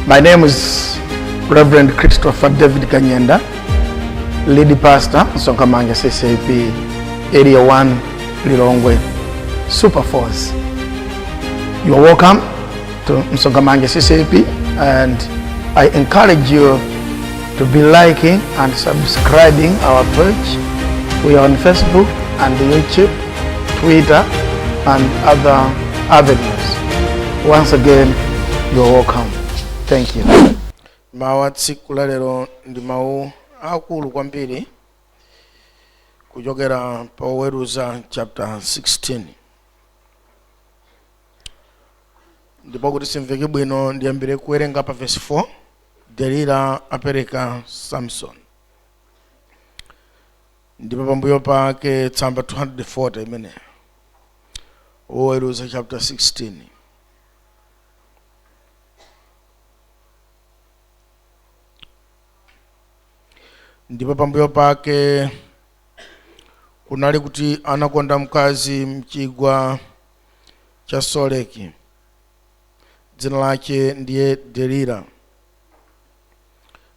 My name is Reverend Christopher David Kanyenda, lead pastor, Sonkamanga CCAP, Area 1, Lilongwe, Super Force. You are welcome to Msongamanga CCAP and I encourage you to be liking and subscribing our page. We are on Facebook and YouTube, Twitter, and other avenues. Once again, you're welcome. Thank you. mawu a tsiku la lero ndi mawu aakulu kwambiri kuchokera pa oweruza chapter 16 ndipo kuti simveke bwino ndiyambire kuwerenga pa verse 4 delila apereka samson ndipo pambuyo pake tsamba 240 imeneyo oweruza chapter 16 ndipo pambuyo pake kunali kuti anakonda mkazi mchigwa cha Soreki dzina lace ndiye Delila.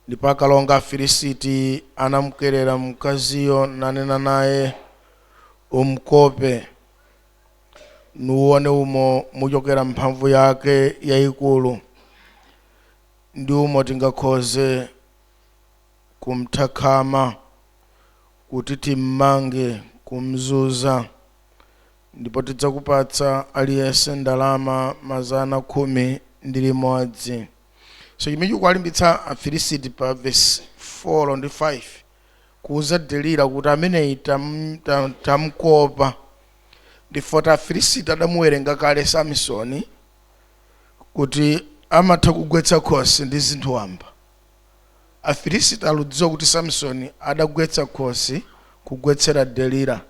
Ndipo akalonga a Afilisiti anamkerera mkaziyo, nanena naye, Umkope, nuuone umo mucokera mphamvu yake yaikuru, ndi umo tingakhoze kumtha khama, kuti timmange, kumzunza, Ndipo tidzakupatsa aliyense ndalama mazana khumi ndi limodzi. So chimene chikuwalimbitsa Afilisiti pa vesi 4 ndi 5 kuuza Delila kuti ameneyi tamkopa ndi foti Afilisiti adamuwerenga kale Samisoni kuti amatha kugwetsa khosi ndi zinthu wamba. Afilisiti aludziwa kuti Samisoni adagwetsa khosi kugwetsera Delila.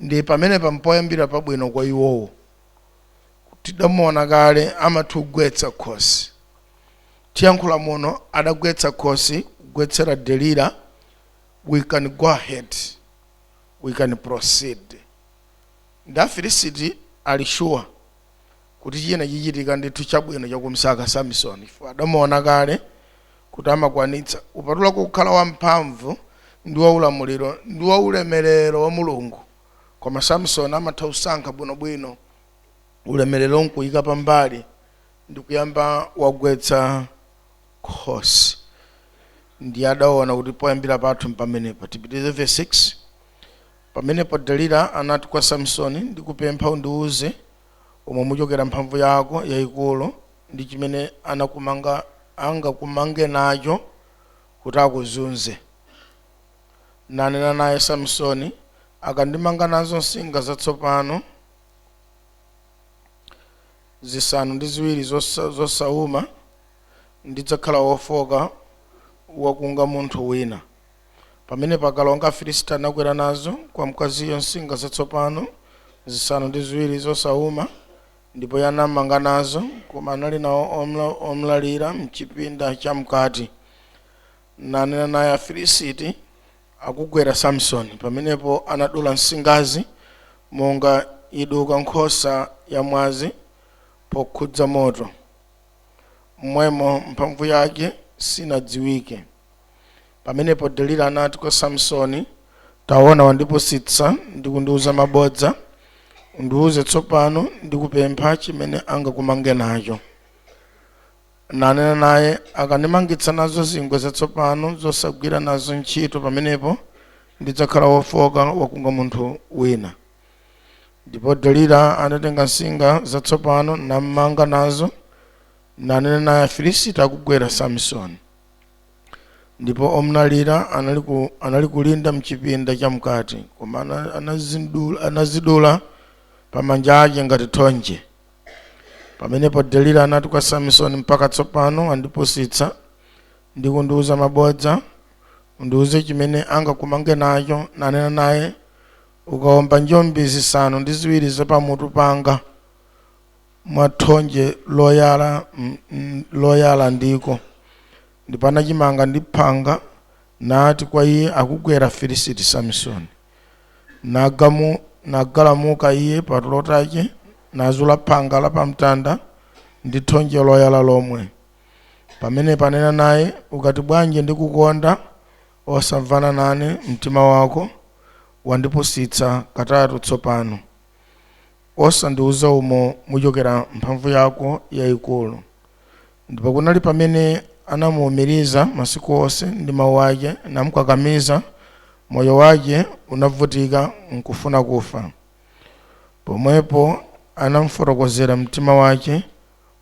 ndiye pamenepa mpoyambira pabwino kwa iwowo tidamuona kale amatha ugwetsa khosi tiyankhula muno adagwetsa khosi kugwetsera delila we can go ahead we can proceed ndi afilisiti ali sure kuti china chichitika ndithu chabwino chakumsaka Samisoni, chifukwa adamuona kale kuti amakwanitsa, kupatula kukhala wamphamvu ndi waulamuliro ndi waulemerero wa Mulungu. Koma Samisoni amatha kusankha bwinobwino ulemerero n'kuika pambali ndi kuyamba wagwetsa khosi. Ndiye adaona kuti poyambira pathu mpamenepa. Tipitirize vesi 6. Pamenepo Delila anati kwa Samisoni, Ndikupempha undiwuze umo muchokera mphamvu yako yaikulu, ndi chimene anakumanga angakumange nacho kuti akuzunze? Nanena naye Samsoni, Akandimanga nazo nsinga zatsopano zisanu ndi ziwiri zosa- zosauma, ndidzakhala wofoka wakunga munthu wina. Pamenepo akalonga a Afilisiti anakwera nazo kwa mkaziyo nsinga zatsopano zisanu ndi ziwiri zosauma, ndipo iye anamanga nazo, koma anali nawo omla- omlalira mchipinda chamkati. Nanena naye, Afilisiti akugwera Samsoni. Pamenepo anadula nsingazi monga iduka nkhosa yamwazi pokhudza moto. M'mwemo mphamvu yake sinadziwike. Pamenepo Delila anati kwa Samsoni, Taona, wandipusitsa ndi kundiuza mabodza. Undiuze tsopano, ndikupempha, chimene angakumange nacho. Nanena naye, Akandimangitsa nazo zingwe zatsopano zosagwira nazo ntchito, pamenepo ndidzakhala wofoka wakunga munthu wina. Ndipo Delila anatenga nsinga zatsopano nammanga nazo, nanena naye, Afilisiti akugwera, Samsoni. ndipo omlalira anali, ku, anali kulinda mchipinda chamkati koma ana- anazidula pa manja ake ngati thonje pamenepo delila anati kwa samisoni mpaka tsopano wandipusitsa ndi kundiuza mabodza undiuze chimene angakumange nacho nanena naye ukaomba njombi zisanu ndi ziwiri zapamutu panga mwa thonje loyala mm, mm, loyala ndiko ndipo anachimanga ndi phanga nati kwa iye akugwera Afilisiti samisoni Nagamu, nagalamuka iye patulo tace nazula phanga la pamtanda ndi thonje loyala lomwe pamenepo ananena naye ukati bwanji ndikukonda osamvana nane mtima wako wandipusitsa katatu tsopano Osandiuza umo muchokera mphamvu yako yaikulu. Ndipo kunali pamene anamuumiriza masiku onse ndi mau ace, namkakamiza, moyo wace unabvutika nkufuna kufa. Pomwepo anamfotokozera mtima wace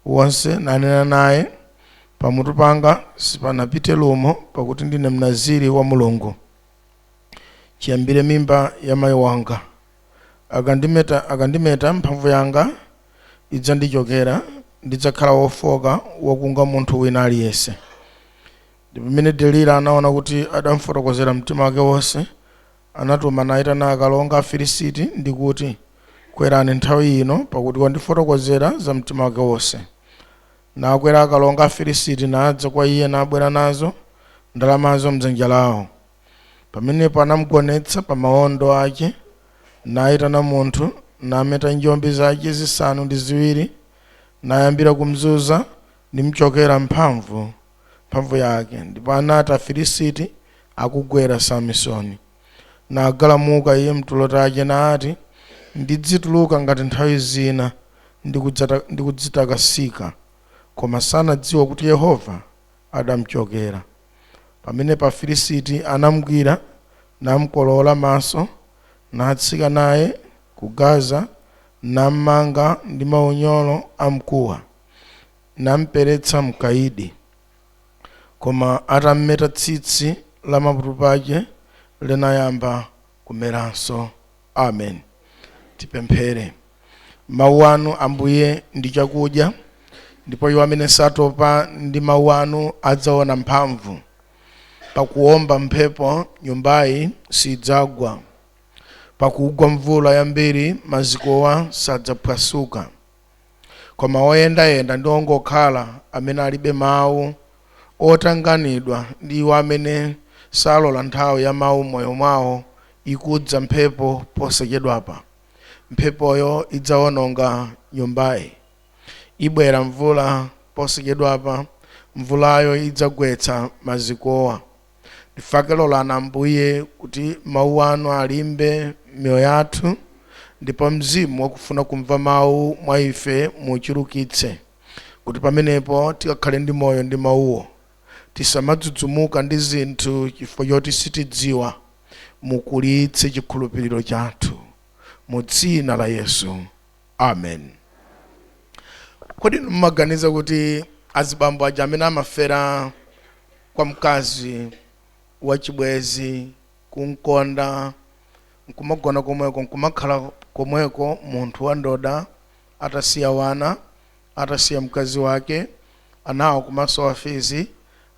wonse, nanena naye, Pamutu panga sipanapite lumo, pakuti ndine Mnaziri wa Mulungu ciyambire mimba ya mai wanga. Akandimeta, akandimeta, mphamvu yanga idzandichokera, ndidzakhala wofooka, wakunga munthu wina aliyense. Ndipo pamene Delila anaona kuti adamfotokozera mtima wake wonse, anatuma naitana akalonga a Filisiti ndi kuti, Kwerani nthawi ino, pakuti wandifotokozera za mtima wake wonse. Nakwera akalonga a Filisiti nadza kwa iye nabwera nazo ndalamazo m'dzanja lao. Pamenepo anamgonetsa pa maondo ace, naitana munthu, nameta njombi zace zisanu ndi ziwiri, nayambira kumzuza, nimcokera mphamvu mphamvu yake, ndipo anati Afilisiti akugwera Samisoni. Nagalamuka iye m'tulo tace, nati, Ndidzituruka ngati nthawi zina, ndi kudzata- ndi kudzitakasika. Koma sanadziwa kuti Yehova adamchokera. Pamenepo Afilisiti anamgwira, namkolowola maso, natsika naye ku Gaza, nammanga ndi maunyolo amkuwa, namperetsa m'kaidi. Koma atammeta tsitsi la pamutu pace linayamba kumeranso. Amen. Tipemphere. Mawu anu, Ambuye, ndi chakudya, ndipo iwo amene satopa ndi mawu anu adzaona mphamvu. Pakuwomba mphepo, nyumbayi sidzagwa. Pakugwa mvula yambiri, mazikowa sadzaphwasuka. Koma oyendayenda ndi ongokhala amene alibe mawu, otanganidwa ndi iwo amene salola nthawi ya mawu m'moyo mwawo, ikudza mphepo posachedwapa. Mphepoyo idzawononga nyumbayi. Ibwera mvula posachedwapa, mvulayo idzagwetsa mazikowa. Ndifake lolani, Ambuye, kuti Mawu Anu alimbe m'miyoyo yathu, ndipo Mzimu wakufuna kumva Mawu mwa ife muuchulukitse, kuti pamenepo tikakhale ndi moyo ndi Mawuwo. Tisamadzudzumuka ndi zinthu chifukwa choti sitidziwa. Mukulitse chikhulupiriro chathu mu Dzina la Yesu. Amen. Kodi inu mumaganiza kuti azibambo aja amene amafera kwa mkazi wachibwezi kumkonda nkumagona komweko nkumakhala komweko munthu wandoda atasiya wana atasiya mkazi wake anawo kumasowa fizi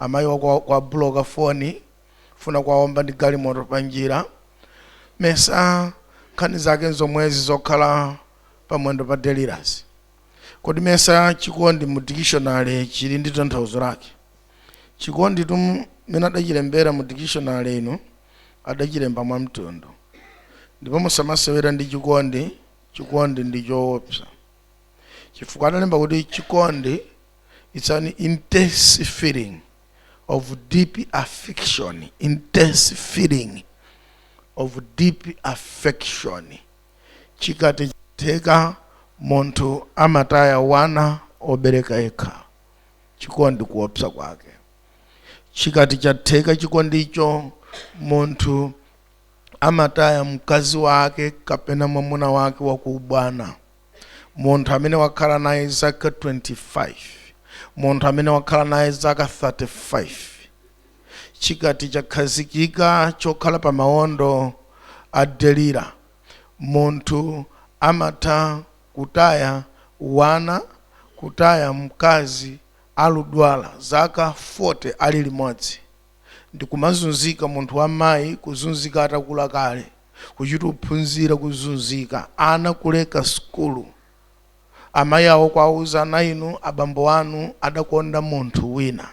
amayiwa kwa, kwa buloka foni Kufuna kuwaomba ndi galimoto panjira. Mesa nkhani zake nzomwezi zokhala pa mwendo pa Delila. Kodi mesa chikondi mu dikishonale chili ndi tanthauzo lake? Chikonditu mmene adachilembera mu dikishonale inu, adachilemba mwamtundu. Ndipo musamasewera ndi chikondi, chikondi ndi choopsa. Chifukwa adalemba kuti chikondi. it's an intense feeling of deep affection intense feeling of deep affection chikati chatheka munthu amataya wana obereka yekha chikondi kuopsa kwake chikati chatheka chikondicho munthu amataya mkazi wake kapena mwamuna wake wakuubwana munthu amene wakhala naye zaka 25 munthu amene wakhala naye zaka 35 chikati chakhazikika chokhala pa mawondo a Delila munthu amatha kutaya wana kutaya mkazi akudwala zaka 40 ali limodzi ndikumazunzika munthu wamayi kuzunzika atakula kale kuchita kuphunzira kuzunzika ana kuleka sukulu amayi awo kuwauza ana inu abambo anu adakonda munthu wina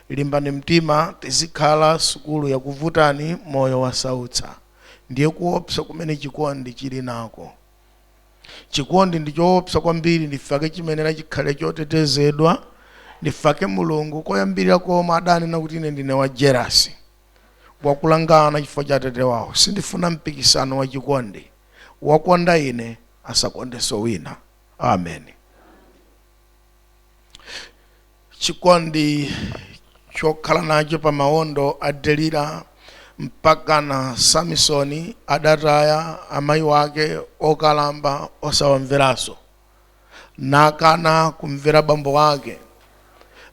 limbani mtima tizikhala sukulu yakuvutani moyo wasautsa ndiye kuopsa kumene chikondi chili nako chikondi ndi choopsa kwambiri ndifake chimayenera chikhale chotetezedwa ndifake mulungu koyambirira komwe adanena kuti ine ndine wa jelasi wakulanga ana chifukwa cha atate wawo sindifuna mpikisano wa chikondi wakonda ine asakondenso wina amen chikondi chokhala nacho pa mawondo a Delila mpakana Samisoni adataya amayi wake okalamba osawamveranso nakana kumvera bambo wake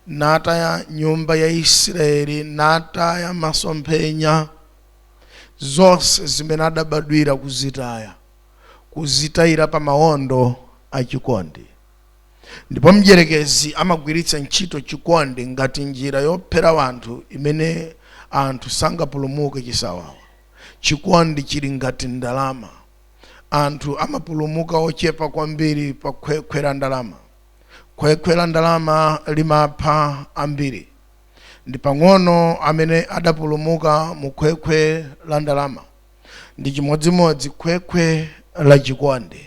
nataya nyumba ya Isiraeli nataya masomphenya zonse zimene adabadwira kuzitaya kuzitayira pa mawondo a chikondi Ndipo mdyerekezi amagwiritsa ntchito chikondi ngati njira yophera wanthu imene anthu sangapulumuke chisawawa. Chikondi chili ngati ndalama. Anthu amapulumuka ochepa kwambiri pa khwekhwe la ndalama. Khwekhwe la ndalama limapha ambiri. Ndi pang'ono amene adapulumuka mu khwekhwe la ndalama. Ndi chimodzimodzi khwekhwe la chikondi.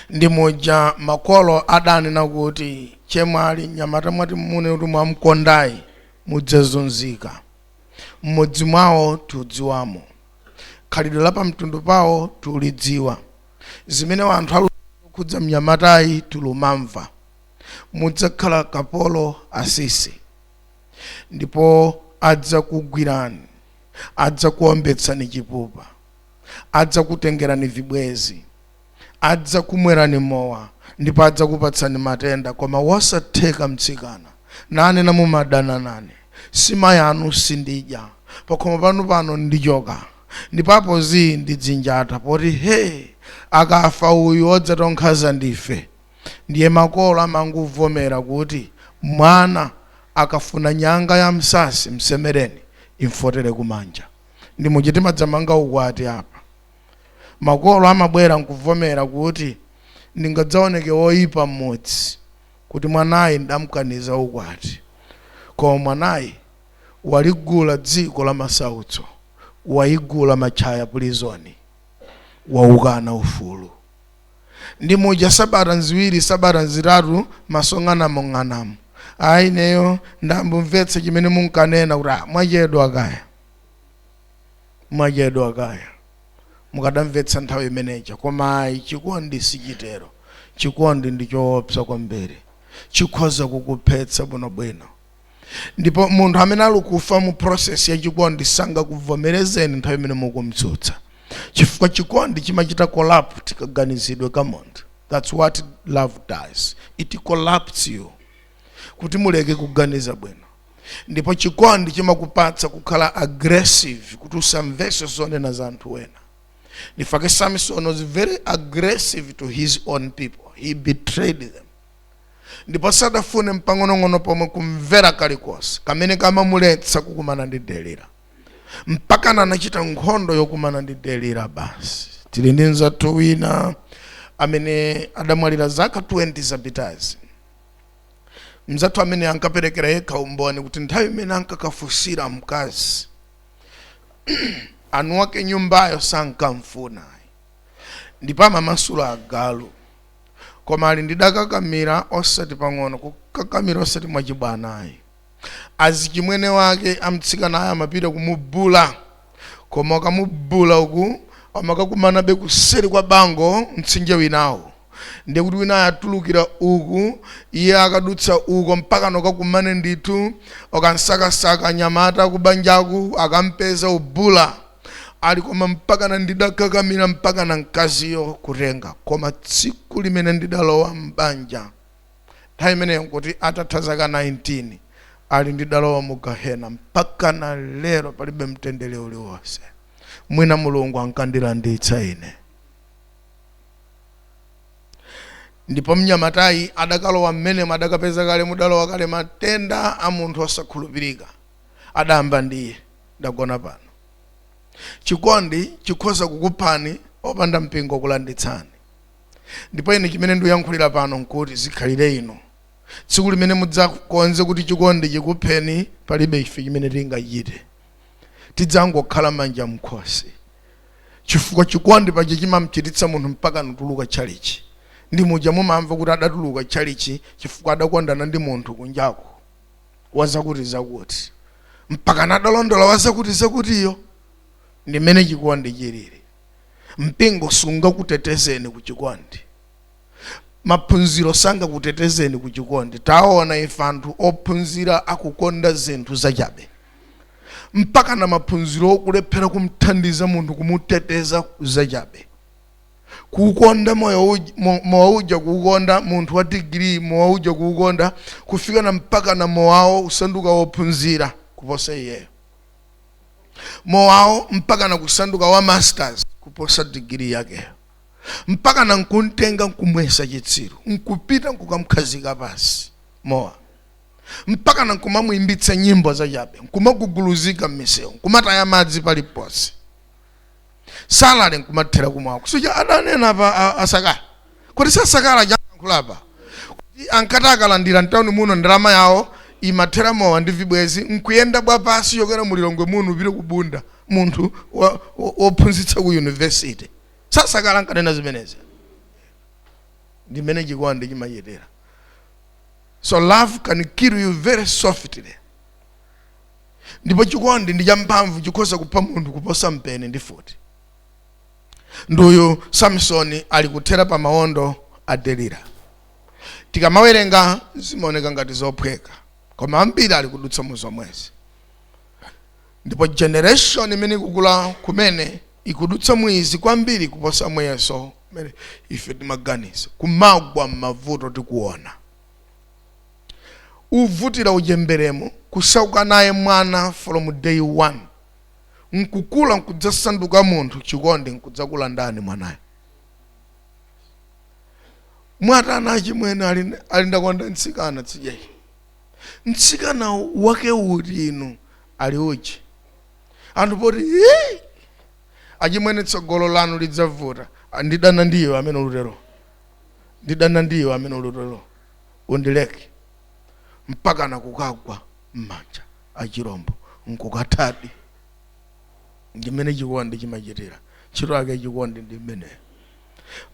ndi muja makolo adanena kuti chemwali mnyamata mwati mune kuti mwamkondayi mudzazunzika m'mudzi mwawo tiudziwamo khalidwe la pamtundu pawo tiulidziwa zimene anthu aluza kukhudza mnyamatayi tilumamva mudzakhala kapolo asisi ndipo adzakugwirani adzakuombetsani chipupa adzakutengerani vibwenzi, adzakumwerani mowa ndipo adzakupatsani matenda koma wosatheka mtsikana nanena mumadana nane sima yanu sindidya pakhomo panu pano ndichoka ndipo apo zii ndidzinjata poti hee akafa uyu odzatonkhaza ndife ndiye makolo amangovomera kuti mwana akafuna nyanga ya nsatsi msemereni imfotere kumanja. ndi muja timadzamanga ukwati apa makolo amabwera nkuvomera kuti ndingadzaoneke woyipa mmudzi kuti mwanayi ndamukaniza ukwati koma mwanayi waligula dziko la masautso wayigula Mikuyu pulizoni waukana ufulu ndi muja sabata nziwiri sabata nzitatu maso ng'anang'anamu ayi ineyo ndayamba kumvetsa chimene munkanena kuti "Ah, mwachedwa kaya mwachedwa kaya mukadamvetsa nthawi imene ija koma ayi chikondi sichitero chikondi ndi choopsa kwambiri chikhoza kukuphetsa bwinobwino ndipo munthu amene alukufa mu process ya chikondi sangakuvomerezeni nthawi imene mukumtsutsa chifukwa chikondi chimachita corrupt kaganizidwe ka munthu that's what love does it corrupts you kuti muleke kuganiza bwino ndipo chikondi chimakupatsa kukhala aggressive kuti usamvese zonena za anthu wena ndichifukwa chake samson was very aggressive to his own people he betrayed them ndipo sadafune mpang'onong'ono pomwe kumvera kalikonse kamene kamamuletsa kukumana ndi delila mpakana anachita nkhondo yokumana ndi delila basi tili ndi nzathu wina amene adamwalira zaka 20 zapitazi nzathu amene ankaperekera yekha umboni kuti nthawi imene ankakafunsira mkazi anthu ake nyumbayo sankamfuna ayi ndipo amamasula agalu koma ali ndidakakamira osati pang'ono kukakamira osati mwachibwana ayi azichimwene wake amtsikanayo amapita kumubula koma akamubula uku amakakumanabe kuseri kwa bango mtsinje winawo ndiye kuti winayo atulukira uku iye akadutsa uko mpakana akakumane ndithu okamsakasaka nyamata kubanjaku akampeza umbula ali koma mpaka na ndidakakamira mpaka na mkaziyo kutenga koma tsiku limene ndidalowa m'banja nthawi imeneyo nkuti atatha zaka 19 ali ndidalowa mu gehena mpaka na lero palibe mtendere uliwonse mwina mulungu ankandilanditsa ine ndipo mnyamatayi adakalowa mmenemo adakapeza kale mudalowa kale matenda a munthu osakhulupirika adayamba ndiye ndagona pano chikondi chikhoza kukuphani opanda mpingo kulanditsani ndipo ine chimene ndikuyankhulira pano nkuti zikhalire ino tsiku limene mudzakonze kuti chikondi chikupheni palibe ife chimene tingachite tidzangokhala manja mkhosi chifukwa chikondi paja chimamchititsa munthu mpaka nutuluka tchalichi ndi muja mumamva kuti adatuluka tchalichi chifukwa adakondana ndi munthu kunjako wazakuti zakuti mpaka nadalondola wazakuti zakutiyo ndi mmene chikondi chilili mpingo sungakutetezeni ku chikondi maphunziro sangakutetezeni ku chikondi taona ife anthu ophunzira akukonda zinthu zachabe mpaka na maphunziro okulephera kumthandiza munthu kumuteteza zachabe kuukonda moyo uj- mo- mowa uja kuukonda munthu wa digiri mowa uja kuukonda kufika na mpaka na mowawo kusanduka wophunzira kuposa iyeyo mowawo mpaka na kusanduka wa masters kuposa digiri yakeyo mpaka na nkumtenga nkumuyesa chitsiru nkupita nkukamkhazika pansi mowa mpaka na nkumamuimbitsa nyimbo zachabe nkumaguguluzika mmisewu nkumataya madzi paliponse salale nkumathera kumwako sija adanena pa a- asakala kuti sasakala wayankhulapa kuti ankati akalandira mtawuni muno ndalama yawo imathera mowa ndi vibwezi nkuyenda bwapansi yokwera mulilongwe muno upite kubunda munthu wa- wo- wophunzitsa ku yunivesity sasakala ankanena zimenezi ndi mmene chikondi chimachitira so love can kill you very softly ndipo chikondi ndi champhamvu chikhoza kupha munthu kuposa mpeni ndi mfuti ndi uyu samsoni ali kuthera pa mawondo a delila tikamawerenga zimaoneka ngati zophweka koma ambiri ali kudutsa mu zomwezi ndipo generation imene ikukula kumene ikudutsa mu izi kwambiri kuposa muyeso umene ife timaganiza kumagwa m'mavuto tikuona uvutira uchemberemo kusauka naye mwana from day one nkukula nkudzasanduka munthu chikondi nkudzakulandani mwanayo mwatana achimwene ali ndakonda mtsikana tsidya ili mtsikana wake uti inu ali uchi anthu poti "Ee, achimwene tsogolo lanu lidzavuta ndidana ndi iwe amene ukutero ndidana ndi iwe amene ukutero undileke mpaka nakukagwa m'manja a chirombo nkukathadi ndimene chikondi chimachitira ntchito yake chikondi ndi imeneyo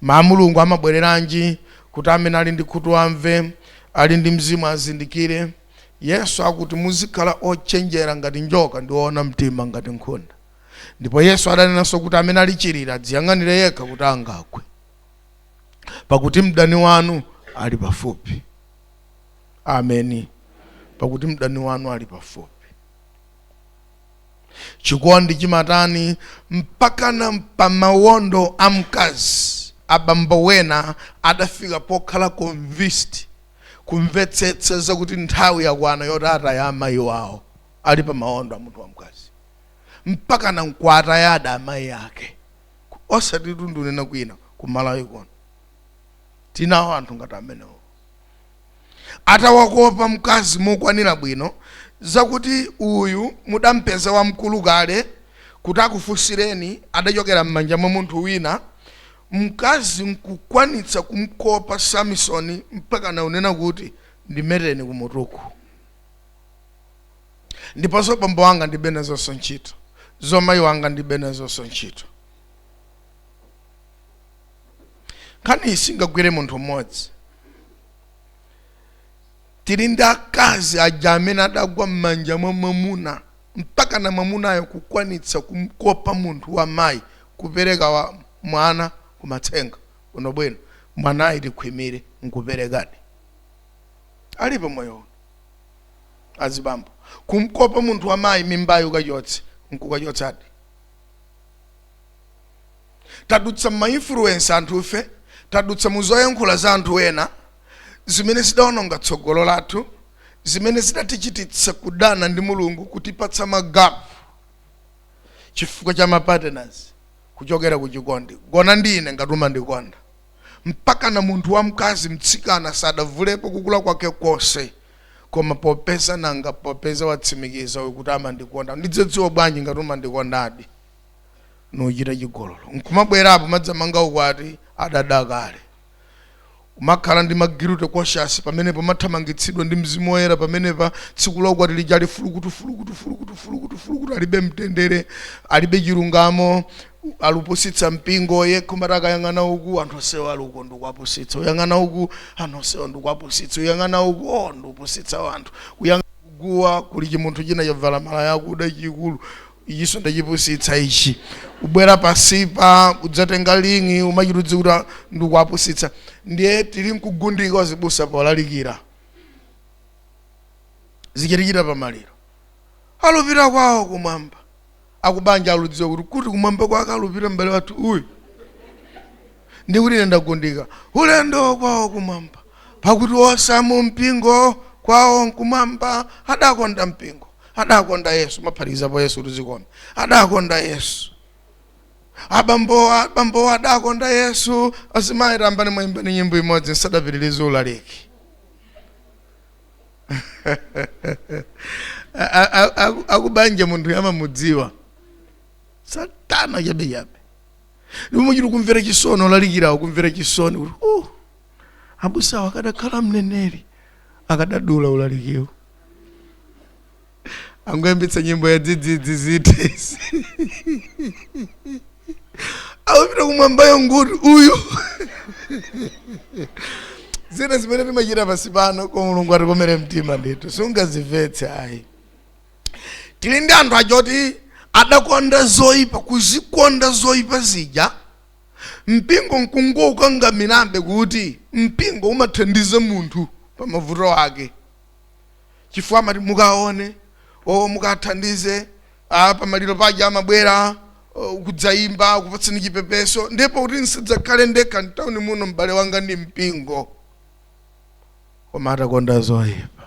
ma mulungu amabwereranji kuti amene ali ndi khutu amve ali ndi mzimu azindikire yesu akuti muzikhala ochenjera ngati njoka ndi oona mtima ngati nkhunda ndipo yesu adanenanso kuti amene ali chiriri adziyang'anire yekha kuti angagwe pakuti mdani wanu ali pafupi ameni pakuti mdani wanu ali pafupi chikondi chimatani mpakana pamawondo a mkazi abambo wena adafika pokhala convinced kumvetsetsa zakuti nthawi yakwana yoti ataya amayi wawo ali pamawondo a munthu wamkazi mpakana nkuwatayadi amayi ake osatitu ndikunena kwina ku malawi kuno tinawo anthu ngati amenewo atawakopa mkazi mokwanira bwino zakuti uyu mudampeza wamkulu kale kuti akufunsireni adachokera m'manja mwa munthu wina mkazi nkukwanitsa kumkopa samisoni mpakana kunena kuti ndimeteni kumutuku ndipo zobambo wanga ndibe nazonso ntchito zomayi wanga ndibe nazonso ntchito nkhani isingagwire munthu mmodzi tili ndi akazi aja amene adagwa m'manja mwa mwamuna mpakana mwamunayo kukwanitsa kumkopa munthu wa mayi kupereka wa mwana kumatsenga bwinobwino mwanayi tikhwimire nkuperekadi alipo moyo uno azibambo kumkopa munthu wa mayi mimbayo kachotse nkukachotsadi tadutsa m'ma influence anthufe tadutsa mu zoyankhula za anthu ena zimene zidaononga tsogolo lathu zimene zidatichititsa kudana ndi mulungu kutipatsa magapu chifukwa cha mapartners kuchokera ku chikondi gona ndi ine ngati umandikonda mpakana munthu wamkazi mtsikana sadavulepo kukula kwake konse koma popeza nanga popeza watsimikiza uyu kuti amandikonda ndidzadziwa bwanji ngati umandikondadi n'kuchita chigololo nkumabwerapo kudzamanga ukwati adadya kale kumakhala ndi ma guilty conscience pamenepo umathamangitsidwa ndi mzimu woyera pamenepa tsiku la ukwati lija ali fulukutufulukutufulukutufulukutu alibe mtendere alibe chilungamo alupusitsa mpingo nkumati akayang'ana uku anthu onsewa ali uko ndikuwapusitsa uyang'ana uku anthu onsewa ndikuwapusitsa uyang'ana uku o ndikupusitsa wanthu uyang'ana kuguwa kuli chimunthu china chavala malaya akuda chikulu ichinso ndachipusitsa ichi ubwera pansipa udzatenga ling'i umachita kudziwa kuti "Ah, ndikuwapusitsa ndiye tili nkugundika wazibusa polalikira zikuchitikira pamaliro alupira kwawo kumwamba akubanja aludziwa kuti kuti kumwamba kwake alupira m'bale wathu uyu ndi kuti ine ndagundika ulendo kwawo kumwamba pakuti onse amu mpingo kwawo nkumwamba adakonda mpingo adakonda yesu maphatikizapo yesu kuti zikome adakonda yesu abambowa abambowa adakonda yesu azimayi tayambani mwayimbani nyimbo imodzi nsadapitirize ulaliki A- a- a- aku- akubanja munthu amamudziwa satana chabechabe ndipo muchiti kumvera chisoni olalikirawa kumvera chisoni kuti uh, abusawa akadakhala mneneri akadadula ulalikiwo angoyambitsa nyimbo ya dzidzidzi zitesi awapita kumwambayo nkuti uyu zina zimene timachita pansi pano kwa mulungu atikomere mtima ndithu sungazimvetse ayi tili ndi anthu achoti adakonda zoyipa kuzikonda zoyipa zija mpingo nkungokangamirabe kuti mpingo umathandiza munthu pa mavuto ake chifukwa amati mukaone o mukathandize ah, pamaliro paja amabwera oh, kudzayimba kupatsani chipepeso ndipo kuti nsidzakhale ndekha mtawuni muno m'bale wanga ndi mpingo koma atakonda zoyipa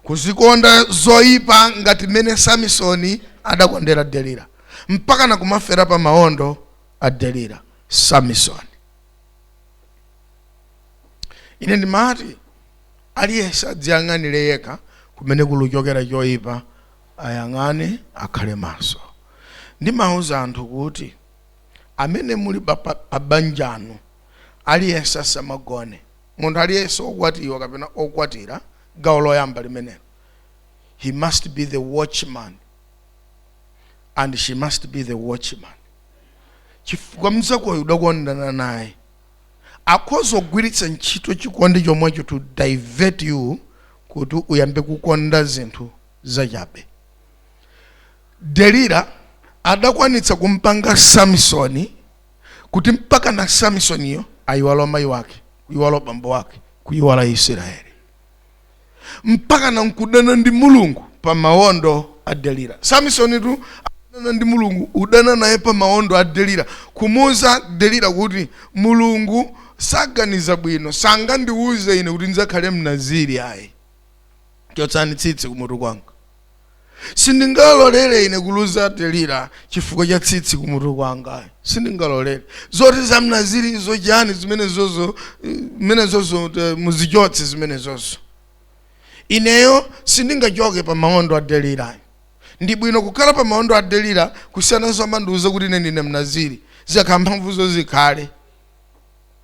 kuzikonda zoyipa ngati mmene samisoni adakondera delila mpaka nakumafera pa maondo a delila samisoni ine ndimati aliyense adziyang'anire yekha kumene kuluchokera choyipa ayang'ane akhale maso ndimawuza anthu kuti amene muli pa- pa- pa banja inu aliyense asamagone munthu aliyense okwatiwa kapena okwatira gawo loyamba limenelo he must be the watchman and she must be the watchman chifukwa mzakoyo udakondana naye akhoza kugwiritsa ntchito chikondi chomwecho to divert you kuti uyambe kukonda zinthu zachabe delila adakwanitsa kumpanga samisoni kuti mpakana samisoniyo ayiwala mayi wake kuyiwala bambo wake kuyiwala israeli mpakana nkudana ndi mulungu pa mawondo a delila samisonitu adana ndi mulungu udana naye pa mawondo a delila kumuuza delila kuti mulungu saganiza bwino sangandiwuze ine kuti ndidzakhale mnaziri ayi chotsani tsitsi kumutu kwanga sindingalolere ine kuluza delira chifukwa cha tsitsi kumutu kwanga sindingalolere zoti za mnaziri zachani zimenezozo zimenezozo eh, muzichotse zimenezozo ineyo sindingachoke pa maondo a delira ndi bwino kukhala pa maondo a delira kusiyana nzomandiuza kuti ine ndine mnaziri zikakhala mphamvuzo zikhale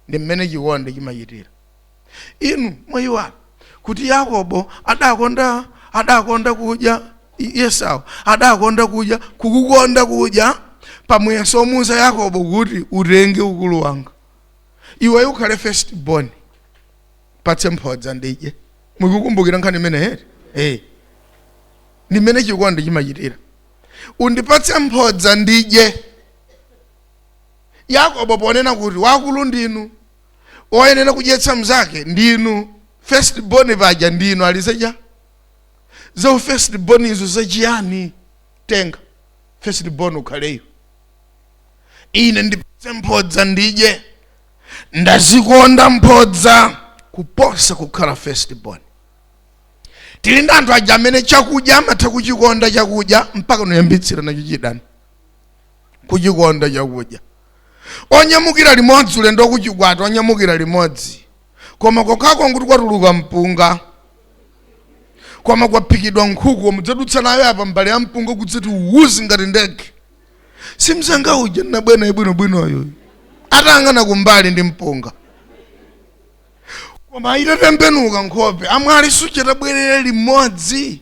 ndi mmene chikondi chimachitira Inu mwayiwala kuti Yakobo adakonda adakonda kudya Esau adakonda kudya kukukonda kudya pa muyeso omuuza Yakobo kuti utenge ukulu wanga iweyo ukhale first born patse mphodza ndidye mukukumbukira nkhani imeneyi eti ndi mmene chikondi chimachitira undipatse mphodza ndidye yakobo ponena kuti wakulu ndinu oyenera kudyetsa mnzake ndinu first born paja ndinu alizeja za first born izo zachiyani tenga first born ukhale iweyo ine ndipatse mphodza ndidye ndazikonda mphodza kuposa kukhala first born tili ndi anthu aja amene chakudya amatha kuchikonda chakudya mpakana kuyambitsira nacho chidani kuchikonda chakudya onyamukira limodzi ulendo wakuchikwati onyamukira limodzi koma kokhako nkuti kwatuluka mpunga koma kwaphikidwa nkhuku mudzadutsa nayo apa mbale ya mpunga kudzati uwuzi ngati ndege si mzanga uja ndinabwera naye bwinobwinoyo atayang'ana kumbali ndi mpunga koma itatembenuka nkhope amwali suja tabwerera limodzi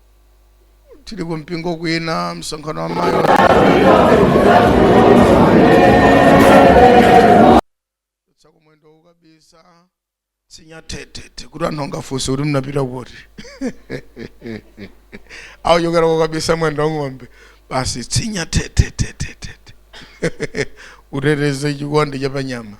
tili ku mpingo kwina msonkhano wa amayi tsaku mwendo kukabisa tsinya tetete kuti anthu angafunse kuti mnapita kuti akuchokera kukabisa mwendo wa ng'ombe basi tsinya tetetetetete uteteze chikondi cha panyama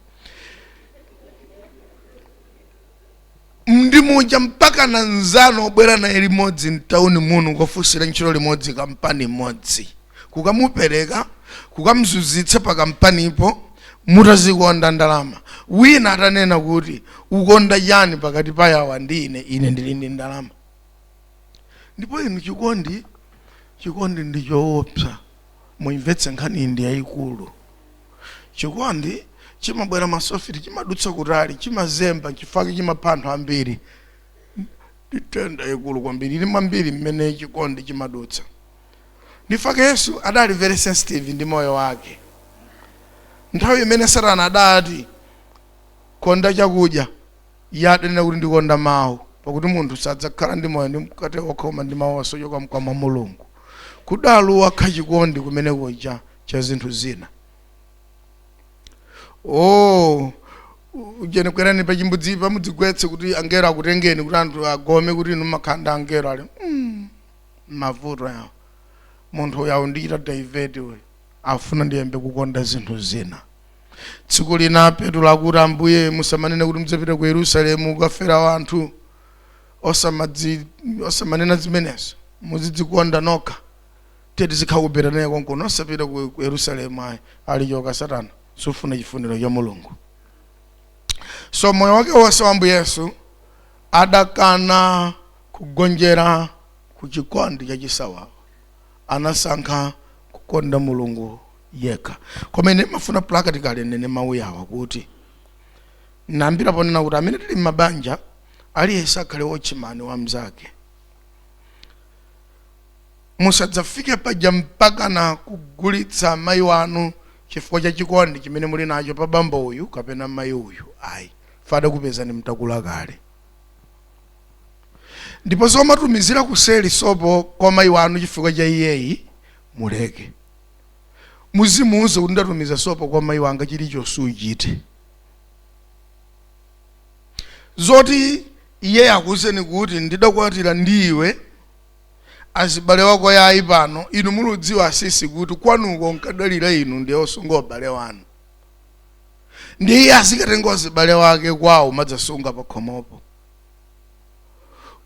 ndi muja mpaka na nzano obwera naye limodzi mtauni muno kukafunsira ntchito limodzi kampani imodzi kukamupereka kukamzunzitsa pa kampanipo mutazikonda ndalama wina atanena kuti ukonda yani pakati pa yawa ndi ine ine ndili ndi ndalama ndipo inu chikondi chikondi ndi choopsa Muimvetse nkhaniyi ndi yaikulu. Chikondi chimabwera masofiti, chimadutsa kutali, chimazemba, n'chifukwa chake chimapha anthu ambiri. Ndi nthenda yaikulu kwambiri, ili mwambiri mmene chikondi chimadutsa. Ndi chifake Yesu adali very sensitive ndi moyo wake. Nthawi imene Satana adati, Konda chakudya. Iye adanena kuti, Ndikonda mawu, pakuti munthu sadzakhala ndi moyo ndi mkate wokha koma ndi mawu onse ochoka mkamwa mwa Mulungu. Kudali kukana chikondi kumene kuja cha zinthu zina. Oh, ujeni kwerani pa chimbudzi pa mudzigwetse kuti angelo akutengeni kuti anthu agome kuti inu mumakhala ndi angelo ali mm, mavuto yawa munthu uyu aundichita divert uyu afuna ndiyambe kukonda zinthu zina tsiku lina petulo akuti ambuye musamanene kuti mudzapita ku yerusalemu kukafera wanthu osamadzi osamanena zimenezo muzidzikonda nokha tiye tizikhala ku betaniya konkuno osapita ku ku yerusalemu ayi ali choka satana sufuna chifuniro cha mulungu so moyo wake wonse wa ambuye yesu adakana kugonjera ku chikondi cha chisawawa anasankha kukonda mulungu yekha koma ine ndimafuna practically ndinene mawu yawa kuti ndiyambira ponena kuti amene tili m'mabanja aliyense akhale watchman wa mnzake musadzafike paja mpakana kugulitsa mayi wanu chifukwa cha chikondi chimene muli nacho pa bambo uyu kapena mayi uyu ayi father adakupezani mutakula kale ndipo zomatumizira kuseli sopo kwa mayi wanu chifukwa cha iyeyi muleke Muzimuuza kuti ndatumiza sopo kwa mayi wanga chilichonse uchite. Zoti iye akuuzeni kuti ndidakwatira ndi iwe azibale wako yayi pano inu muludziwa asisi kuti kwanuko ankadalira inu ndiye osunga abale wanu. Ndiye iye azikatenga wazibale wake kwawo kumadzasunga pakhomopo.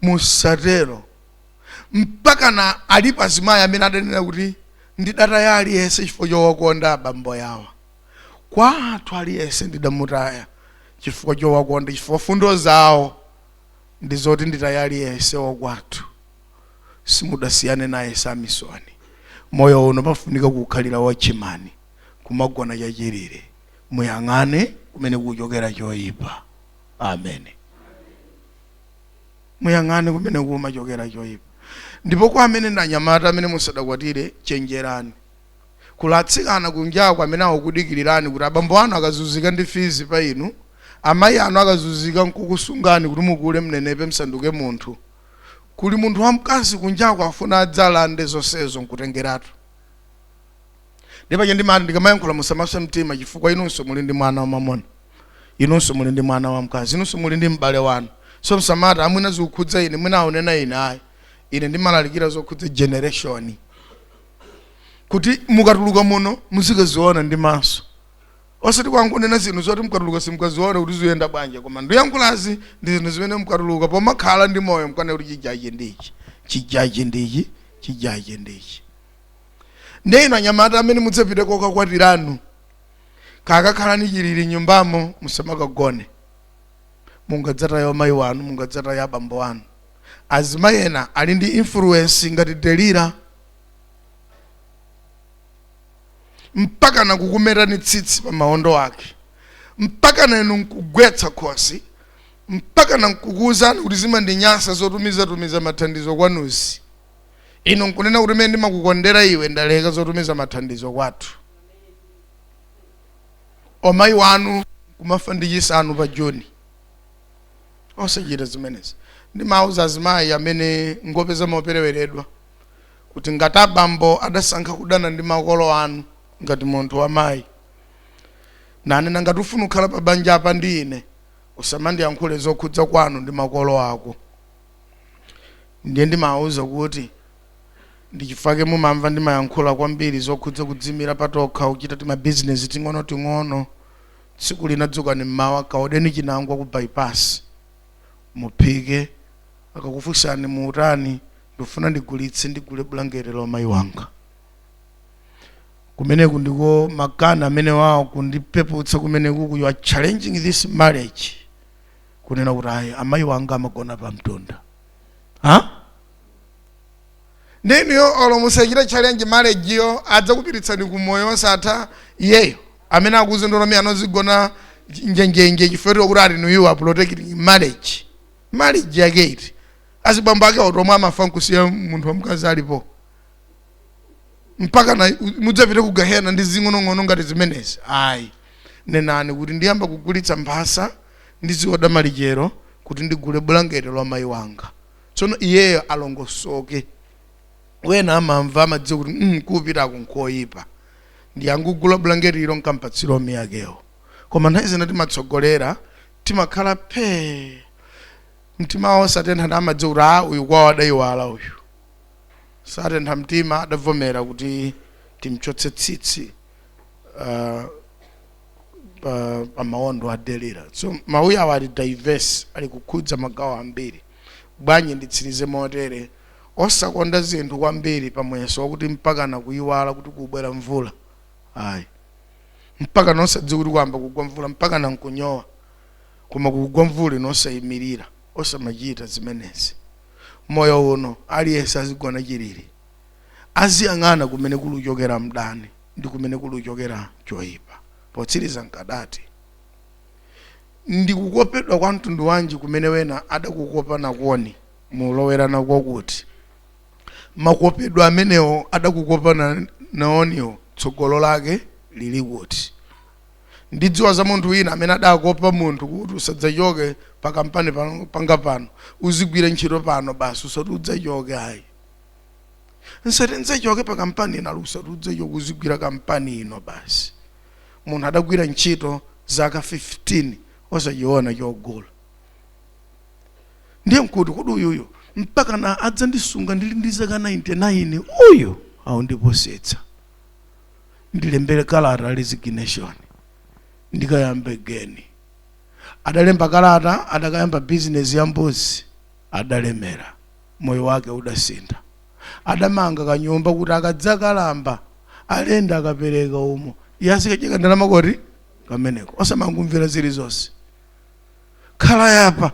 Musatero. mpakana ali pazimayi amene adanena kuti ndidataya aliyense chifukwa chowakonda abambo yawa kwathu aliyense ndidamutaya chifukwa chowakonda chifukwa fundo zawo ndi zoti nditaye aliyense wakwathu simudasiyane naye samisoni moyo uno pafunika kukhalira wachimani kumagona chachilire muyang'ane kumene kuchokera choyipa amen Muyang'ane kumene kumachokera choipa. Ndipo kwa amene ndi anyamata amene musadakwatire, chenjerani. Kuli atsikana kunjako amene akukudikilirani kuti abambo anu akazunzika ndi fizi pa inu, amayi anu akazunzika nkukusungani kuti mukule mnenepe msanduke munthu. Kuli munthu wamkazi kunjako afuna adzalande zonsezo nkutengeratu. ndi paja ndimati ndikamayankhula musamasweke mtima chifukwa inunso muli ndi mwana wamamuna inunso muli ndi mwana wamkazi inunso muli ndi m'bale wanu so msamata amwina zikukhudza ine mwina aunena ine ayi ine ndimalalikira zokhudza generation kuti mukatuluka muno muzikaziona ndi maso osati kwangonena zinthu zoti mukatuluka simkaziona kuti ziyenda bwanji koma ndiyankhulazi ndi zinthu zimene mukatuluka pomakhala ndi moyo mkanena kuti chijaji ndichi chijaji ndichi chijaji ndichi ndiye inu anyamata amene mudzapite kokakwatiranu kakakhalani chilili nyumbamo musamakagone mungadzataye amayi wanu mungadzataye abambo wanu azimayi ena ali ndi influence ngati Delila mpaka nakukumetani tsitsi pa maondo ake mpaka na inu nkugwetsa khosi mpaka na nkukuwuzani kuti zimandinyansa zotumizatumiza mathandizo kwanuzi inu nkunena kuti mene ndimakukondera iwe ndaleka zotumiza mathandizo kwathu omayi wanu kumafa ndi chisanu pa juni osachita zimenezi ndimauza azimayi amene ngopeza mopereweredwa kuti ngati abambo adasankha kudana ndi makolo anu ngati munthu wamayi nanena ngati ufuna kukhala pa banja apa ndi ine usamandiyankhule zokhudza kwanu ndi makolo ako ndiye ndimawauza kuti ndi chifukwa chake mumamva ndimayankhula kwambiri zokhudza kudzimira patokha kuchita timabizinesi ting'onoting'ono tsiku lina dzukani mmawa kaodeni chinangwa ku bypass muphike akakufunsani muutani ndifuna ndigulitse ndigule bulangete la mayi wanga kumeneku ndiko makana amene wawo kundipeputsa kumeneku you are challenging this marriage kunena kuti ayi amayi wanga amagona pa mtunda ndiye inuyo olo musachita challenge marriage yo adzakupiritsani ku moyo wosatha iyeyo amene akuzindula mi anozigona njenjenje chifukwa kuti ati you are protecting marriage marriage yake iti azibambo ake otomwe amafa nkusiya munthu wamkazi alipo mpakana mudzapite ku gahena ndi zing'onong'ono ngati zimenezi ayi nenani kuti ndiyamba kugulitsa mphasa ndiziwoda malichero kuti ndigule bulangeti la mayi wanga tsono iyeyo alongosoke wena amamva amadziwa kuti mm, kupitako nkoyipa ndiye angugula bulangeti ilo nkampatsira omi akewo koma nthawi zina timatsogolera timakhala phee mtimawo satentha ndi amadziwa kuti a uyu kwawo adayiwala uyu satentha mtima adavomera kuti timchotse tsitsi uh, pa, pa maondo a delila so mawu yawa ali diverse ali kukhudza magawo ambiri bwanji nditsirize motere osakonda zinthu kwambiri pa muyeso wakuti mpakana kuyiwala kuti kubwera mvula ayi mpakana osadziwa kuti kwamba kugwa mvula mpakana nkunyowa koma kugwa mvula inu osayimirira osamachita zimenezi moyo uno aliyense azigona chilili aziyang'ana kumene kuli kuchokera mdani ndi kumene kuli kuchokera choyipa potsiriza nkadati ndikukopedwa kwa mtundu wanji kumene wena adakukopa nakoni mulowere nako kuti makopedwa amenewo adakukopa na- naoniwo tsogolo lake lili kuti Ndidziwa za munthu wina amene adakopa munthu kuti usadzachoke pa kampani panga pano. Uzigwira ntchito pano basi usati udzachoke ayi. Nsati ndidzachoke pa kampani ino ali usati udzachoke uzigwira kampani ino basi. Munthu adagwira ntchito zaka 15 osachiona chogula. Ndiye nkuti kodi uyuyu mpakana adzandisunga ndili ndi zaka 99 uyu akundipusitsa. ndilembere kalata resignation ndikayambe geni adalemba kalata adakayamba bizinesi ya mbuzi adalemera moyo wake udasintha adamanga kanyumba kuti akadzakalamba alendi akapereka umo yazikadyeka ndalama koti kameneko osamangumvera zilizonse khala yapa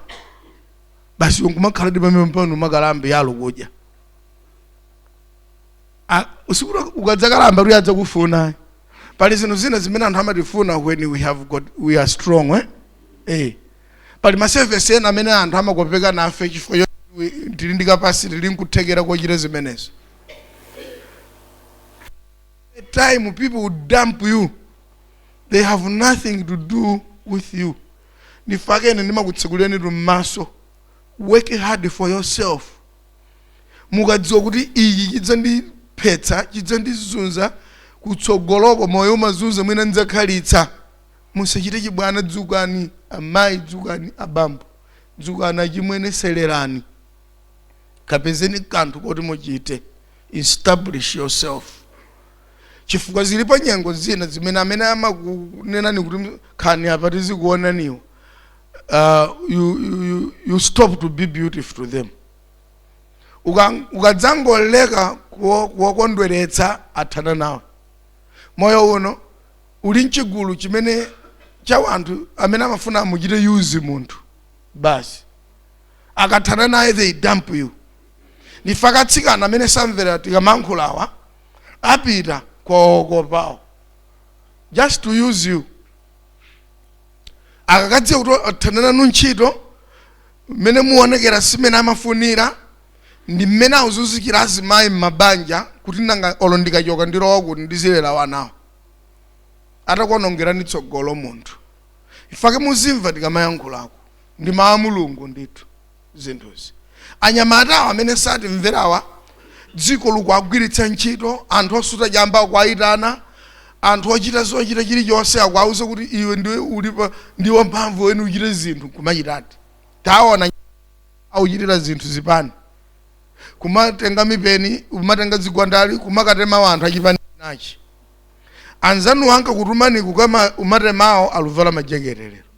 basi ungumakhala ndi pamenepa nomakalambe yalo kudya Ah, usiku uno ukadzakalamba kuti adzakufuna pali zinthu zina zimene anthu amatifuna when we have got we are strong eh? Eh. pali masevesi ena amene anthu amakopeka nafe chifukwa choti we- tili ndi kapasiti tili nkuthekera kochita zimenezo the time people will dump you they have nothing to do with you ndifake ndimakutsekuliranitu mmaso work hard for yourself mukadziwa kuti ichi chidzandiphetsa chidzandizunza kutsogoloko moyo umazunza mwina ndidzakhalitsa musachite chibwana dzukani amayi dzukani abambo dzukani achimwene tsetserekani kapezeni kanthu koti muchite establish yourself chifukwa zilipo nyengo zina zimene amene amakunenani kuti khalani apa tizikuonaniwo uh, you, you, you, you stop to be beautiful to them Uka- ukadzangoleka kuwo- kuwakondweretsa athana nawe moyo uno uli mchigulu chimene cha wanthu amene amafuna amuchite yuzi munthu basi akathana naye they dump you ndifake atsikana amene samvera tikamayankhulawa apita kwaokopawo just to use you akakadziwa kuti athana nanu ntchito mmene muonekera si mmene amafunira ndi mmene akuzunzikira azimayi m'mabanja kuti nanga olo ndikachoka ndilowa kuti ndizilera wanawo atakuonongerani tsogolo munthu ifake muzimva tikamayankhulako ndi mawu a mulungu ndithu zinthuzi anyamatawa amene satimverawa dziko likuwagwiritsa ntchito anthu osuta chamba akuwayitana anthu ochita zochita chilichonse akuwauza kuti iwe ndiwe ulipa ndi wamphamvu weni uchite zinthu kumachitadi taona auchitira zinthu zipani kumatenga mipeni kumatenga zigwandali kumakatema anthu achipani nachi anzanu ankakutumani kuka umatemawo aluvala majekete lero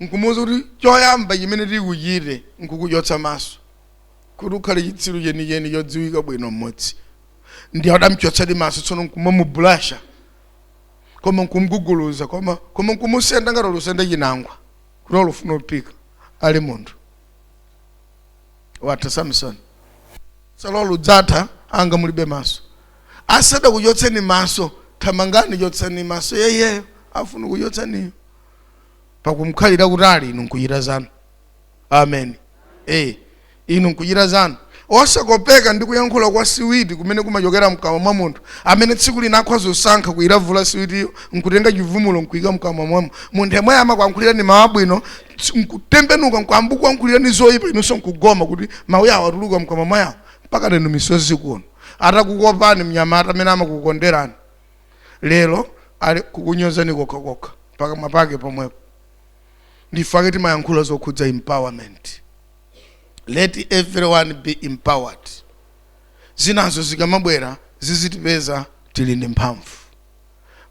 nkumuuza kuti choyamba chimene tikuchite nkukuchotsa maso kuti ukhale chitsiru chenicheni chodziwika bwino mmodzi ndiye adamchotsadi maso tsono nkumamubulasha koma nkumguguluza koma koma nkumusenda ngati ulusenda chinangwa kuti ulufuna upika ali munthu watha samsoni tsalo lidzatha anga mulibe maso asadakuchotseni maso thamangani chotsani maso yeyeyo afuna kuchotsaniyo pakumkhalira kutali inu nkuchita zanu amen eh inu nkuchita zanu osakopeka ndi kuyankhula kwa siwiti kumene kumachokera mkamwa mwa munthu amene tsiku lina akhoza kusankha kuyilavula siwitiyo nkutenga chivumvulo nkuika mkamwa mwamo munthu yemwe amakuyankhulirani mawu abwino ts- nkutembenuka nkuyamba kuyankhulirani zoyipa inunso nkugoma kuti mawu awa atuluka mkamwa mwa awa mpaka lero misozi kuno atakukopani mnyamata amene amakukonderani lero ali kukunyozani kokha kokha pakamwa pake pomwepo ndichifukwa chake timayankhula zokhudza empowerment let everyone be empowered zinazo zikamabwera zizitipeza tili ndi mphamvu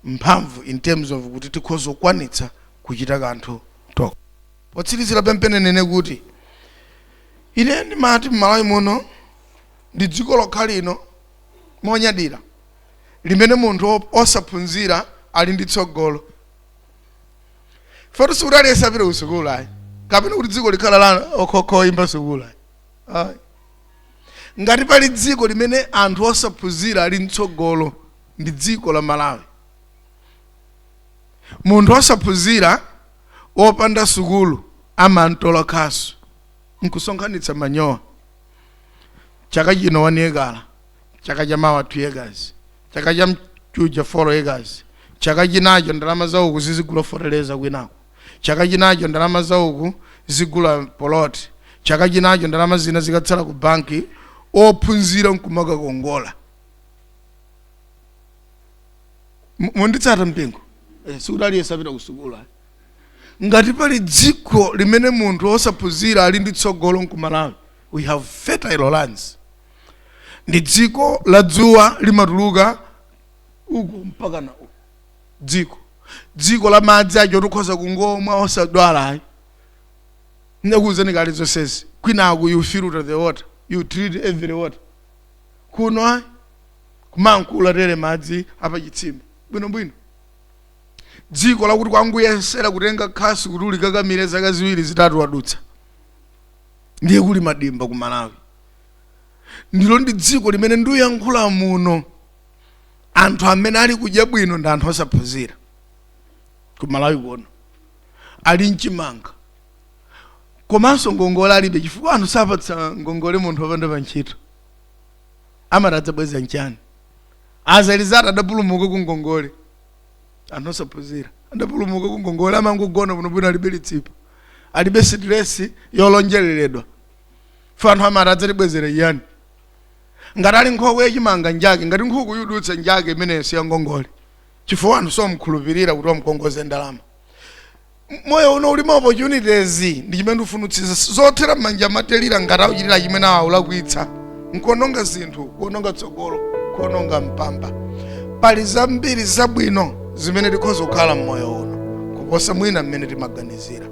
mphamvu in terms of kuti tikhoza kukwanitsa kuchita kanthu tokha potsirizira pempheni ndinene kuti ineyo ndimati mmalawi muno ndi dziko lokha ili lomwe ndinyadira limene munthu osaphunzira ali ndi tsogolo poti sikuti aliyense apita ku sukulu ayi kapena kuti dziko likhala la okhaokha oyimba sukulu ayi ayi ngati pali dziko limene anthu osaphunzira ali ndi tsogolo ndi dziko la malawi munthu osaphunzira wopanda sukulu amangotola khasu nkusonkhanitsa manyowa chaka chino 1 acre chaka cha mawa 2 acres chaka cha mkuja 4 acres chaka chinacho ndalama za uku zizigula foteleza kwinako chaka chinacho ndalama za uku zigula poloti chaka chinacho ndalama zina zikatsala ku banki ophunzira nkumakakongolako M- mukunditsata mpingo eh, sikuti aliyense apita kusukulu ayi. ngati pali dziko limene munthu osaphunzira ali ndi tsogolo nkumalawi we have fertile lands ndi dziko la dzuwa limatuluka uku mpaka nauko dziko dziko la madzi aja oti ukhoza kungomwa osadwala ayi ndakuwuzani kale zonsezi kwinako you filter the water you treat every water kuno ayi kumangomwa tere madzi apachitsime bwinobwino dziko lakuti kungoyesera kutenga khasu kuti ulikakamire zaka ziwiri zitatu wadutsa ndiye kuli madimba ku malawi ndilo ndi dziko limene nduyankhula muno anthu amene ali kudya bwino ndi anthu osaphunzira ku malawi kuno ali nchimanga komanso ngongole alibe chifukwa anthu sapatsa ngongole munthu wopanda pa ntchito amati adzabweza nchani asazindikira kuti adapulumuka ku ngongole anthu osaphunzira adapulumuka ku ngongole amangogona bwinobwino alibe litsipa alibe sitiresi yolonjeleredwa ife anthu amati adzatibwezera chiyani ngati ali nkhokwe yachimanga njake ngati nkhuku yudutsa njake imene si yangongole chifukwa anthu samukhulupirira kuti amkongoze ndalama moyo uno uli ma opportunities ndi chimene ndifunitsitsa zothera m'manja matelira ngati akuchitira chimene akulakwitsa nkuononga zinthu kuononga tsogolo kuononga mpamba pali zambiri zabwino zimene tikhoza kukhala m'moyo uno kuposa mwina mmene timaganizira